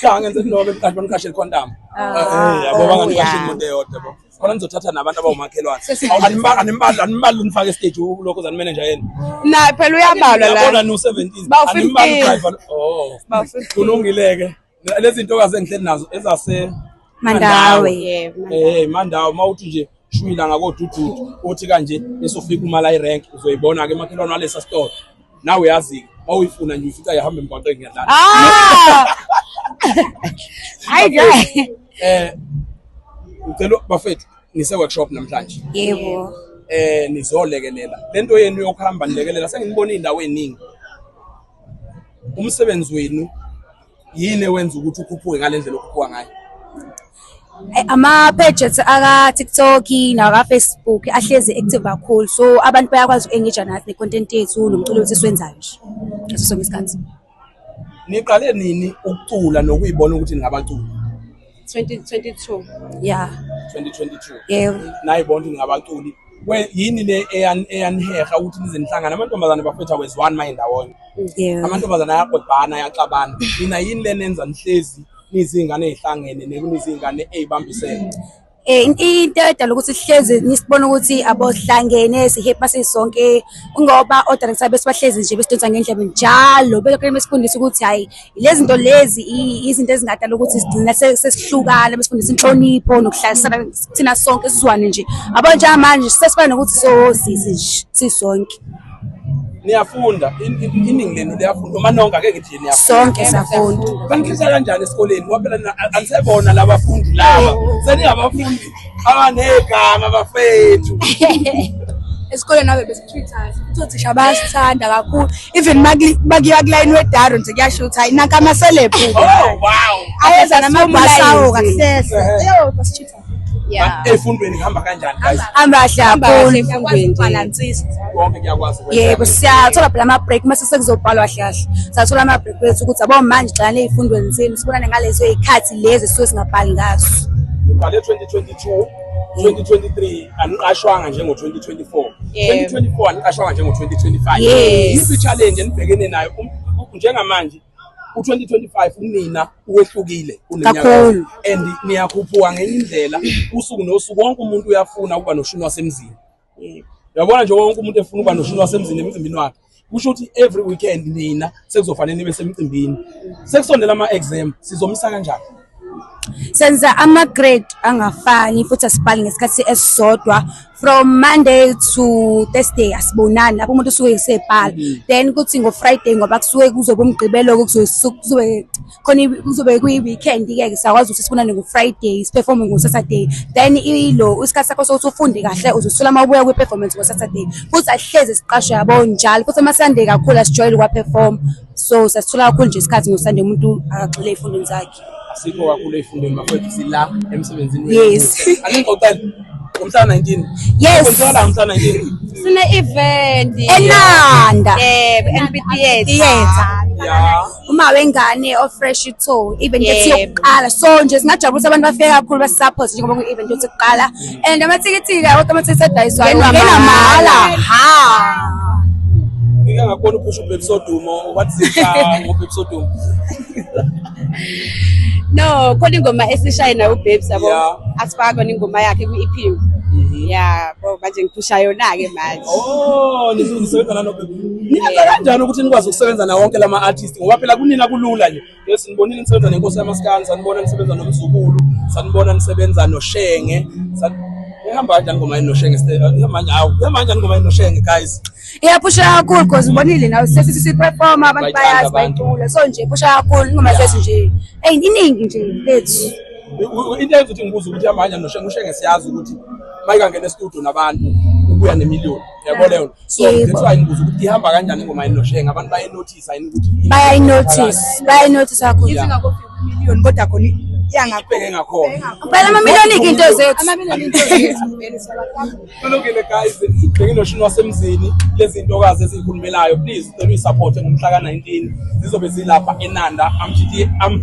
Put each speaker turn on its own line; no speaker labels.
Cha
ngenze into lokho kanti bangiqashe condom. Eh yabo banganiqashe imoto eyodwa bo. Khona ngizothatha nabantu abawumakhelwane. Animbali animbali animbali nifake stage lokho zani manager yena. Naye phela
uyabalwa la. Yabona no 17.
Animbali driver. Oh. Kulungileke. Lezi ntokazi engihleli nazo ezase Mandawe.
Eh Mandawe
mawuthi nje shwila ngakodududu othi kanje esofika umala irank uzoyibona ke makhelwane walesa store nawe uyazi uma uyifuna nje uyifica yahamba emgwaqeni ngiyadlala ah! hayi nje eh ngicela bafethu nise workshop namhlanje yebo
eh nizolekelela
lento yenu yokuhamba nilekelela sengibona indawo eningi umsebenzi wenu yini ewenza ukuthi ukhuphuke ngale ndlela okhuphuka ngayo eh,
ama-pages aka-tiktok naka-facebook ahlezi active kakhulu so abantu bayakwazi uku-engage nathi ne-content yethu nomculo wethu esiwenzayo nje ngaso sonke isikhathi niqale
nini ukucula nokuyibona ukuthi ningabaculi 2022
ya 2022
yebo naye
bonke ngabaculi
yini le eyaniheha ukuthi nize nihlangane amantombazane bafetha weziwani maye ndawonye amantombazane
ayagodbana
ayaxabana nina yini le nenza nihlezi nizingane ezihlangene nekunizingane ezibambisene eh
into edala ukuthi sihlezi nisibona ukuthi abohlangene sihepa sisonke ngoba o director besibahlezi nje besidonsa ngendlebe njalo belokho besikundisa ukuthi hayi lezi zinto lezi izinto ezingadala ukuthi sigcina sesihlukana besifundisa inhlonipho nokuhlalisana thina sonke sizwane nje yabo njengamanje sesifana nokuthi sosisi nje sisonke
niyafunda iningi lenu liyafunda uma nonke ake ngithi niyafunda sonke siyafunda
banikhetha kanjani esikoleni
ngoba phela anisebona labafundi laba seningabafundi abanegama bafethu
esikoleni abe Twitters futhi othisha bayasithanda kakhulu even makuyiwa kulayini wedaro nje kuyasho ukuthi hayi nanka amaselebhu oh,
ayeza
namabhasawo kahlehla eyo basitshitha
efundweni ihamba kanjani guys hamba kahle kakhulu efundweni
balance konke kuyakwazi
ukwenza
yebo siyathola
phela ama break mase sekuzobhalwa kahle kahle sathola ama break wethu ukuthi abo manje gxana ezifundweni zenu sibonane ngalezo izikhathi lezi sisuke singabhali ngazo ubhale 2022
2023 aniqashwanga njengo 2024 yes. 2024 aniqashwanga njengo 2025 yes. yiphi challenge enibhekene nayo um, njengamanje u-2025 unina uwehlukile kunenyawo and niyakhuphuka ngenye indlela usuku nosuku wonke umuntu uyafuna ukuba noshuni wasemzini uyabona nje wonke umuntu efuna ukuba noshuni wasemzini emzimbini wakhe kusho ukuthi every weekend nina sekuzofanele nibe semcimbini sekusondela ama-exam sizomisa kanjani senza
ama-grade angafani futhi asibhali ngesikhathi esisodwa from monday to thursday asibonani lapho umuntu usuke esebhala mm. then kuthi ngo-friday ngoba kusuke kuzobe umgqibelo-ke kuzobe khona kuzobe kuyi-weekend ke ke siyakwazi ukuthi sibonane ngo-friday siperforme ngo-saturday then ilo isikhathi sakho sokuthi ufunde kahle uzosithola uma ubuya kwi-performance ngo-saturday futhi asihlezi siqasho yabo njalo futhi amasunday kakhulu asijwayele ukuwaperform so sasithola kakhulu nje isikhathi ngosunday umuntu akagxile ey'fundweni zakhe asikho kakhulu
ey'fundweni bafowethu sila emsebenzini yes aningqoqele
ngomhla 19
yes ngomhla 19
sine-event enanda
yebo
empitiyetha
yeah uma wengane
ofresh to even if yokuqala so nje singajabulisa abantu bafike kakhulu basisupport njengoba ku event ukuthi kuqala and amathikithi ka wonke amathikithi adayiswayo ngena mahala ha ngike
ngakhona uphusha ubaby sodumo wathi sisha ngobaby sodumo
no khona ingoma esishaye nayo ubabes yabo asifaka khona ingoma yakhe kwi-ep mhm. ya bo manje ngiphusha yona-ke manje oh nisebenza
nanobaby Niyenza kanjani ukuthi nikwazi ukusebenza na wonke lama artist ngoba phela kunina kulula nje. Yes nibonile nisebenza nenkosi yamaskani, sanibona nisebenza nomzukulu, sanibona nisebenza noshenge. Ihamba kanjani ngoma yenu noshenge? Ihamba kanjani? Awu, ihamba kanjani ngoma yenu noshenge guys? Iyaphusha kakhulu
because ubonile nawe sesi sisi performer abantu bayazi bayicula. So nje iphusha kakhulu ingoma sesi nje. Hey, iningi nje lethu. Into eyenza
ukuthi ngibuze ukuthi ihamba kanjani noshenge, ushenge siyazi ukuthi mayikangena e-studio nabantu ubuya nemiliyoni. Yabo leyo. so that's why ngibuza ukuthi ihamba kanjani ingoma yini noshenge abantu bayinothisa yini ukuthi
bayayinothisa
bayayinothisa
kakhulu yeah.
million
kodwa
khona iyangabheke
ngakhona phela amamiliyoni into zethu
amamiliyoni into
zethu kulungile guys
bheke noshini wasemzini lezi ntokazi ezikhulumelayo please cela uyisupport ngomhla ka-19 zizobe zilapha enanda amshitiye am